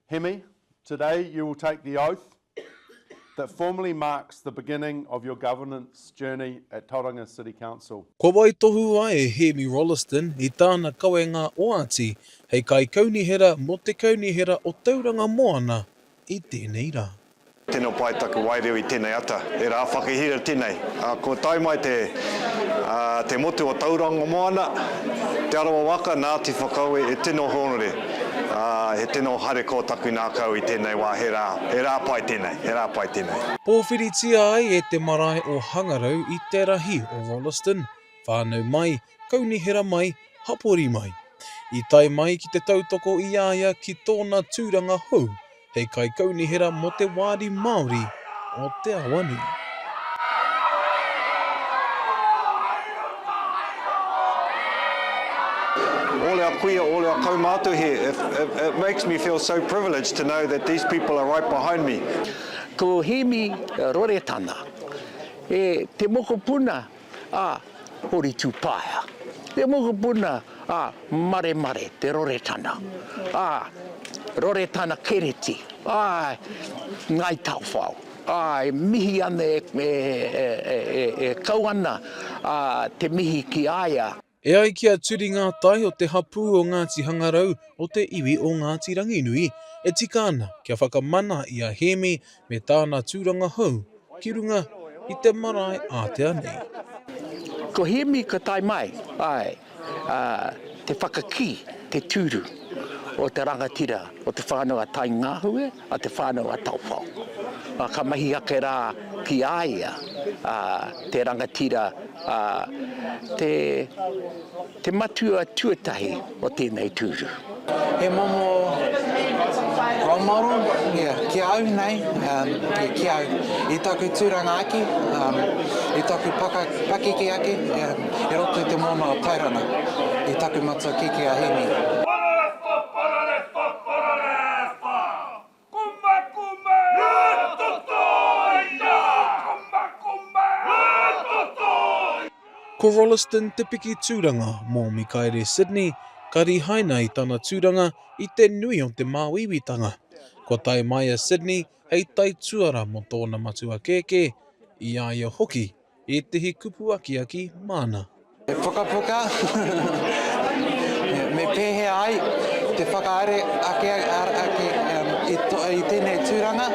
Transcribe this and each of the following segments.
Hemi, today you will take the oath that formally marks the beginning of your governance journey at Tauranga City Council. Kua waitohu a e Hemi Rolleston i tāna kawenga oati hei Kaikaunihera mō te Kaunihera o Tauranga Moana i tēnei rā. Tino pai taku waireo i tenei ata, e ra whakahira tenei. Ko tae mai te te motu o Tauranga Moana, Te Arawa waka, Ngati Whakaue, e tino hōnore, he tino hare ko taku ngakau i tenei wa, he ra, he ra pai tenei, he ra pai tenei. Pōwhiritia ai e te marae o Hangarau i te rahi o Rolleston, whānau mai, Kaunihera mai, hapori mai. I tae mai ki te tautoko i a ia ki tōna tūranga hou hei Kaikaunihera mō te Wāri Māori o Te Awanui. Ole a kuia, ole a kaumātua here, if, if, it makes me feel so privileged to know that these people are right behind me. Ko Hemi Roretana, e te mokopuna. a Hori Tupaea, te mokopuna a Maremare Te Roretana, a Roretana Kereti, ae, Ngai Taowhao, ae, mihi ana e kau ana te mihi ki a ia. E ai ki a Turi Ngātai o te hapū o Ngāti Hangarau o te iwi o Ngāti Ranginui, e tika ana kia whakamana i a Hēmi me tāna tūranga hou ki runga i te marae ātea nei. Ko Hēmi ka tae mai ai te whakakī, te tūru o te rangatira o te whānau a Taingāhue. a Te Whānau-a-Taofao, ā, ka mahi ake rā ki a ia, ā, te rangatira, ā, te, te matua tuatahi o tēnei tūru. He momo role model, ia, ki a au nei, ā, ia, ki au, i taku tūranga ake, ā, i taku paka, pakeke ake, ia, i roto i te moana o Tairana, i taku matua kēkē a Hēmi. Ko Rolleston te piki tūranga mō Mikaere Sydney, ka rīhaina i tana tūranga i te nui o te māuiuitanga. Kua tae mai a Sydney hei taituara mō tōna matua kēkē, i a ia hoki Ētehi kupu akiaki māna. He pukapuka me pēhea ai te whakahaere ake ake i tēnei tūranga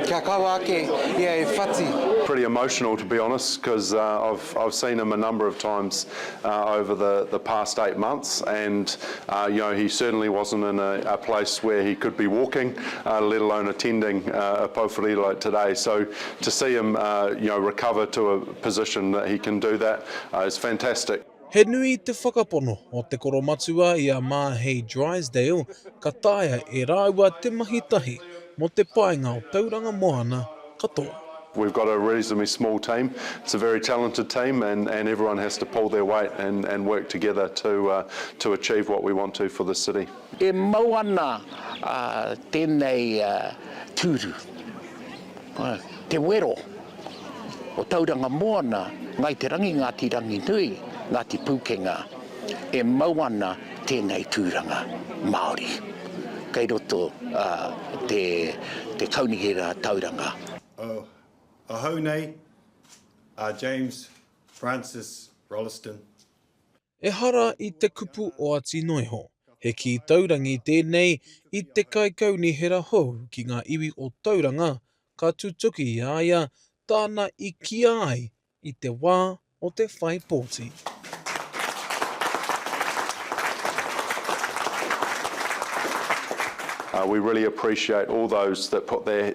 kia kaua ake ia e whati. Pretty emotional to be honest cos I've seen him a number of times over the past eight months and you know he certainly wasn't in a place where he could be walking let alone attending a pau whare like today so To see him you know recover to a position that he can do that is fantastic. He nui te whakapono o te koromatua i a Māhei Drysdale ka taea e rāua te mahi tahi mō te painga o Tauranga Moana katoa. We've got a reasonably small team, it's a very talented team and and everyone has to pull their weight and and work together to to achieve what we want to for this city. E mau ana tēnei tūru. Te wero o Tauranga Moana, Ngai Te Rangi, Ngāti Ranginui, Ngāti Pūkenga, e mau ana tēnei tūranga Māori kei roto te Kaunihera Rātauranga. O ahau nei a James Francis Rolleston. Ehara i te kupu oati noa iho, he kī taurangi tēnei i te kaikaunihera hou ki ngā iwi o Tauranga ka tutuki i a ia tāna i kīa ai i te wā o te whai pōti. We really appreciate all those that put their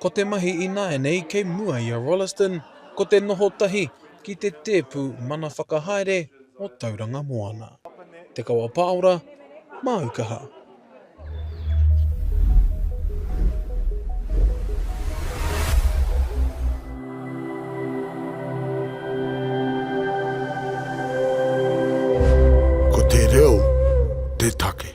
Ko te mahi ināianei kei mua i a Rolleston ko te noho tahi ki te tēpu mana whakahaere o Tauranga Moana, Te Kawa Pāora, Māu Kaha. Ko te reo te take.